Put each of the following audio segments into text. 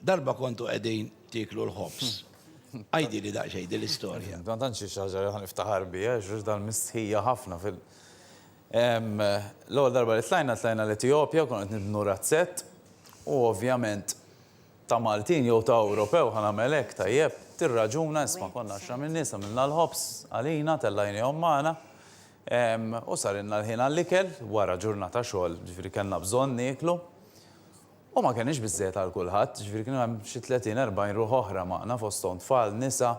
Darba kontu qegħdin tieklu l-ħobż. Għidili daqsxejn din l-istorja. Ma tantx hi xi ħaġa li ħa niftaħar biha, x'ġust dan mistħija ħafna fil. L-ewwel darba li tlajna, tlajna l-Etijopja, konna qed nibnu razzett u ovvjament ta' Maltin jew ta' Ewropew ħa nagħmel hekk, tajjeb, tirraġuna, isma' konna għaxra min-nies, għamilna l-ħobż għalina, tellajniehom magħna u sarilna l-ħin għall-ikel wara ġurnata xogħol, ġifieri kellna bżonn nieklu. U ma kenniex biżżejjed għal kulħadd, jiġifieri kienu hemm xi tletin, erbgħin ruħ oħra magħna fosthom tfal, nisa.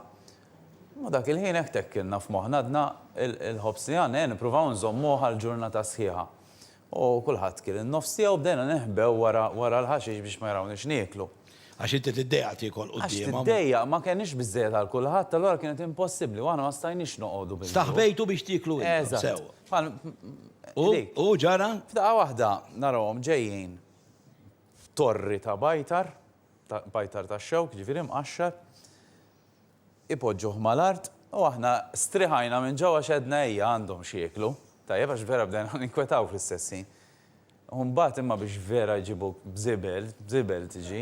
U dak il-ħin hekk tekkilna f'moħħna għadna l-ħobż li għandna, ejja nippruvaw inżommuh għal ġurnata sħiħa. U kulħadd kiel in-nofs tiegħu u bdejna neħbew wara wara l-ħaxix biex ma jrawniex nieklu. Għax inti tiddejjaq tiekol quddiemhom. Għax tiddejjaq, ma kenniex biżżejjed għal kulħadd, allura kienet impossibbli u aħna ma stajniex noqogħdu bil-. Staħbejtu biex tieklu intom sew. Eżatt. U ġara? F'daqqa waħda narawhom ġejjin. f'torri ta' bajtar, ta' bajtar tax-xewk, jiġifieri mqaxxar, ipoġġuh mal-art, u aħna striħajna minn ġewwa għax għedna ejja għandhom x'jieklu, tajjeb għax vera bdejna ninkwetaw fl-istess ħin. U mbagħad imma biex vera jġibuk b'żibel, b'żibel tiġi,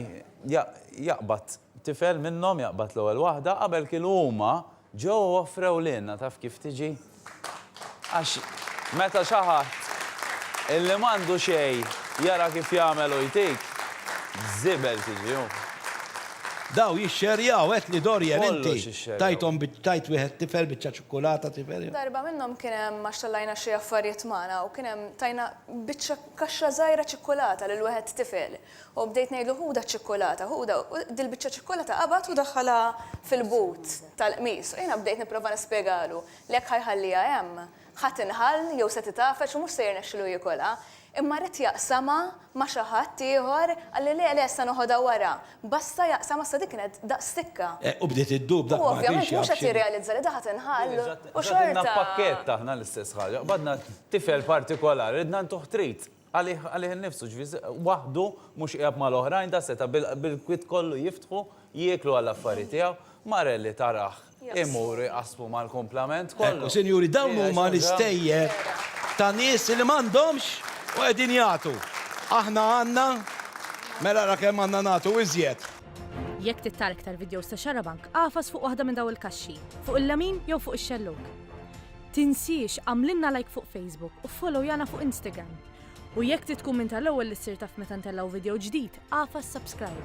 ja, jaqbad tifel minnhom, jaqbad l-ewwel waħda, qabel kienu huma, Ġo offrew lilna, taf kif tiġi? Għax meta xi ħadd illi m'għandu xejn jara kif jagħmel u jtik, żibel tiġi hu. Daw jixxerjaw għedt li Dorian inti tajthom tajt wieħed tifel biċċa ċukkulata tifel. Darba minnhom kien hemm għax tellajna xi affarijiet magħna u kien hemm tajna biċċa kaxxa żgħira ċikkulata lil wieħed tifel. U bdejt ngħidlu ħudha ċ-ċikkulata, ħudha, u dil-biċċa ċikkulata qabad u daħħalha fil-but tal-qmis. U jiena bdejt nipprova nispjegalu li jekk ħa jħalliha hemm, ħa tinħall jew se titgħafeġ u mhux se jirnexxilu jiekolha. Imma ridt jaqsamha ma' xi ħadd ieħor, qalli le, le, se noħodha wara. Basta jaqsamha, issa dik kienet daqs stikka. U bdiet iddub dak ma kienx jaf x'inhi. U ovvjament mhux qed jirrealizza li da ħa tinħall u xorta. Ġatilna pakkett aħna l-istess ħaġa. Qbadna tifel partikolari, ridna ntuh trit. Għalih, għalih innifsu, ġifieri waħdu, mhux qiegħed mal-oħrajn, da seta' bil-kwiet kollu jiftħu, jieklu għall-affari tiegħu. Marelli tarah imur iqassmu mal-kumplament kollu. Ekku, sinjuri, dawn huma l-istejjer ta' nies li m'għandhomx u qegħdin jagħtu. Aħna għandna, mela ara kemm għandna nagħtu iżjed. Jekk trid tara iktar vidjows ta' Xarabank, agħfas fuq waħda minn dawn il-kaxxi, fuq il-lemin jew fuq ix-xellug. Tinsiex għamlilna like fuq Facebook u followjana fuq Instagram. U jekk trid tkun minn tal-ewwel li ssir taf meta ntellgħu video ġdid, agħfas subscribe.